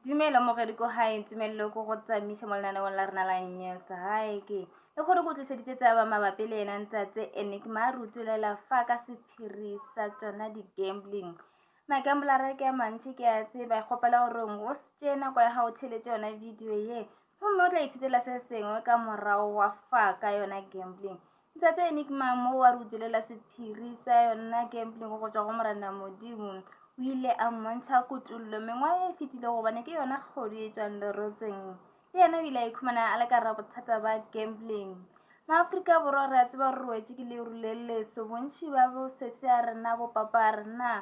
Dumela mogedi ko hae ntumelelo ko go tsamiša mo lenaneong la rena la news hae ke e gore ko tlišeditše tsaba mabapi le yena ntsatse enigma a re utolela fa ka sephiri sa tsona di-gambling magamblara ke a mantši ke a tseba kgopela gore o se tšee nako ya gago theletše yona video ye gomme o tla ithutela se sengwe ka morago wa fa ka yona gambling Ntate Enigma mo wa re o dilela sephiri sa yona gambling go tšwa go morena modimo o ile a mmontšha kutullo mengwa e fetile gobane ke yona kgodu e tšwang lerotseng le yena o ile a ikhumana a le ka ra bothata ba gambling maaforika borwa re a tseba re roetše ke leru le leso bontšhi ba bosese a rena bo papa a rena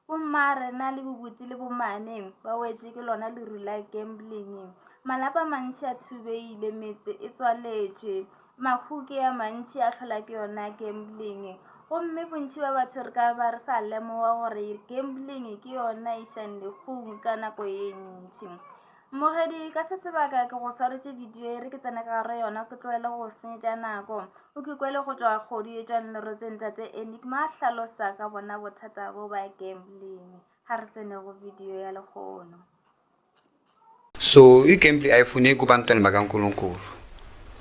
Bomma re na le bobutse le bomane ba wetše ke lona leru la gambling. Malapa a mantši a thubeile, metse e tswaletšwe, mahuke a mantši a tlhola ke yona gambling. Gomme bontši ba batho re ka ba re sa lemoga gore gambling ke yona e šang legong ka nako e ntši. Mmogedi, ka se sebaka ke go swaretše video e re ke tsene ka gare yona ke tloele go senyetša nako. O ke kwele go tšwa kgodu e tšwang lerotseng tate Enigma a hlalosa ka bona bothata bo ba gambling. Ha re tsene go video ya lekgono. So, i gamble iPhone e ku bantwana ba ka Nkulunkulu.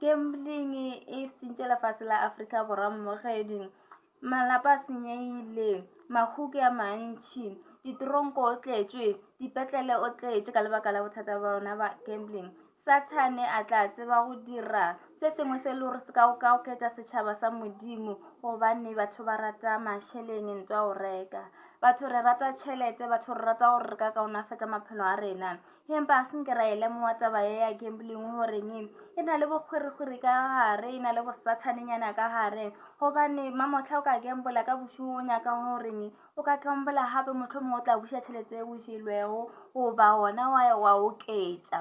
Gambling e sentše lefase la Afrika Borwa mmogedi. Malapa a senyehile, mahuki a mantši, ditoronko o tletšwe, dipetlele o tletše ka lebaka la bothata ba bona ba gambling. Sathane a tla tseba go dira se sengwe se le gore se ka ka oketša setšhaba sa modimo gobane batho ba rata mašeleng ntwa o reka. Batho re rata tšhelete, batho re rata gore re ka kaonafatša maphelo a rena. Empa a se nke ra e lemoga taba ye ya gambling goreng e na le bokgwerikgweri ka gare, e na le bosathanenyana ka gare. Gobane mamohla o ka gambola ka bošego o nyaka goreng o ka gambola gape motlho mongwe o tla buša tšhelete e o jelwego goba gona wa wa oketša.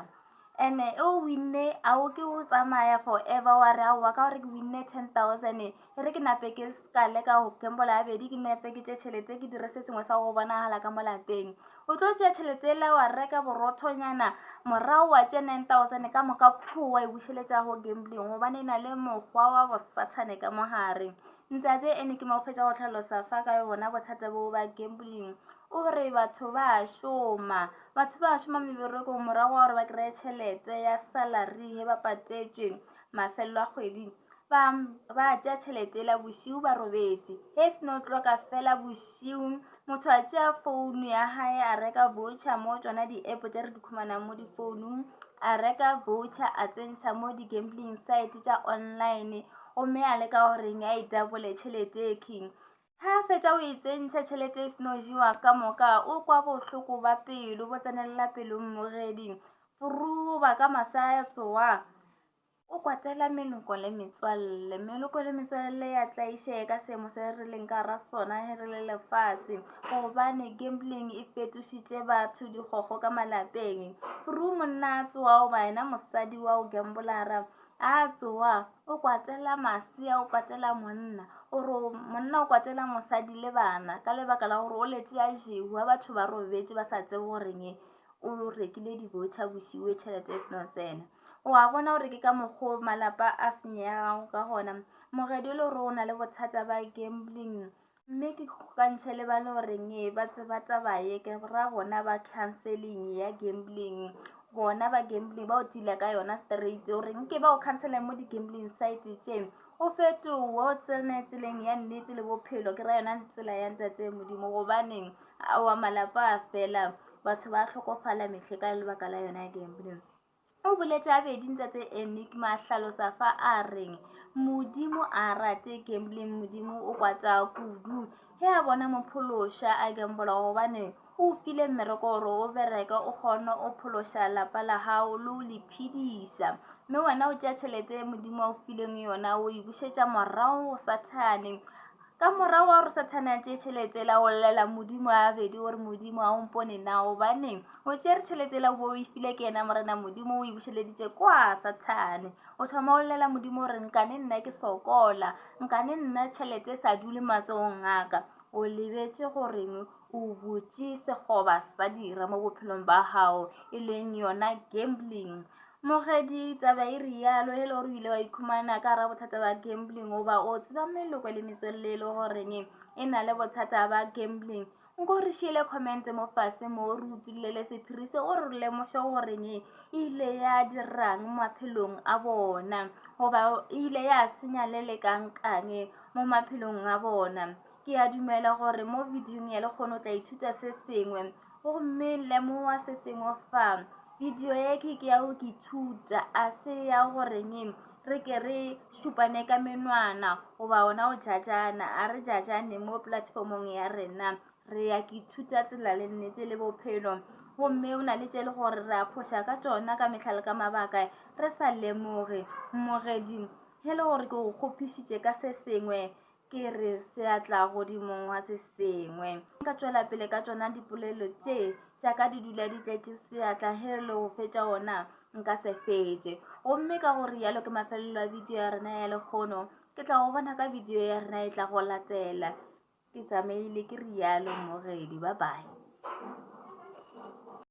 And-e e o winne a o ke o tsamaya forever wa re aowa ka gore ke winne ten thousand E re ke nape ke ska leka go gambola ya bedi ke nepe ke tše tšhelete ke dire se sengwe sa go bonagala ka mo lapeng o tlo tšea tšhelete ele wa reka borothonyana morago wa tše 9000 ka moka pho wa e bušeletša go gambling gobane e na le mokgwa wa bosathane ka mogare ntate ene ke mo fetša go tlhalosa fa ka bona bothata boo ba gambling o re batho ba šoma batho ba šoma meberekong morago wa gore ba kry-e tšhelete ya salary he ba patetšwe mafelelo a kgwedi Ba ba tša tšhelete la bošiu ba robetše. He sno tloka fela bošiu, motho a tšea founu ya hae a reka voucher mo tšona di-app tša re di khumanang mo difounung, a reka voucher a tsentšha mo di-gambling site tša online gomme a leka goreng a e dabole tšhelete e king. Ha a fetša o e tsentšha tšhelete e sno jewa ka moka, o kwa bohloko ba pelo bo tsenelela pelong mogeding, foruba ka masa a tsoa. O kwatela meloko le metswalle. Meloko le metswalle ya tlaišee ka seemo se re leng ka ra sona he re le lefase. Gobane gambling e fetošitše batho dikgokgo ka malapeng. Fru monna a tsoa oba yena mosadi wa o gambolara a tsoa o kwatela masea, o kwatela monna. O re monna o kwatela mosadi le bana ka lebaka la gore o letše a jewa batho ba robetše ba sa tsebe goreng o rekile dibotšha bosiwe tšhelete e seno tsena. O a bona gore ke ka mokgwa o malapa a senyegago ka gona. Mogedi o le gore o na le bothata ba gambling mme ke kgokantšhe le ba le goreng ee ba tseba taba ye ke ra bona ba canceling ya gambling bona ba gambling ba o tila ka yona straight o reng ke ba o cancelang mo di-gambling site tše o fetowe o tsene tseleng ya nnete le bophelo ke ra yona tsela ya ntate modimo gobaneng wa malapa a fela batho ba tlhokofala metlhe ka lebaka la yona ya gambling O boletše gabedi Ntate Enigma hlalosa fa a reng, Modimo a rate gambling, Modimo o kwata kudu. He a bona mophološa a gambola gobane o file mmereko gore o bereke o kgone o phološa lapa la gago le o le phediša. Mme wena o tšea tšhelete e Modimo a o fileng yona o e bušetša morago go Sathane. Ka morago wa gore Sathane a tšee tšhelete la o llela Modimo a bedi gore Modimo a o mpone na gobaneng o tšere tšhelete la o bo o e file ke yena Morena Modimo o e bušeleditše kwa Sathane. O thoma o llela Modimo gore nkane nna ke sokola, nkane nna tšhelete e sa dule matsogong a ka. O lebetše go reng? O butše sekgoba sa dira mo bophelong ba gago, e leng yona gambling. Mogedi, taba e rialo, e le gore o ile wa ikhumana ka ra bothata ba gambling, o ba o tseba meloko le metswelele e le goreng e na le bothata ba gambling. Nko re šiele comment mo fase mo re utullele sephiri se o re lemoše goreng e ile ya dirang maphelong a bona goba e ile ya senya le le kangkang mo maphelong a bona Ke a dumela gore mo bidiong ya lekgono o tla ithuta se sengwe gomme lemoga se sengwe fa bidio ye ke ke ya go ke thuta a se ya goreng re ke re šupane ka menwana goba ona o jajana a re jajane mo platformong ya rena re ya ke thuta tsela le nnete le bophelo gomme o na le tše le gore re a phoša ka tsona ka mehla le ka mabaka re sa lemoge mmogedi he le gore ke go kgophišitše ka se sengwe ke re seatla godimong wa se sengwe nka tšwela pele ka tšona dipolelo tše tša ka di dula di tletše seatla ge re le go fetša ona nka se fetše gomme ka gore yalo ke mafelelo a bidio ya rena ya lekgono ke tla go bona ka bidio ya rena e tla go latela ke tsamaile ke rialo mmogedi ba bae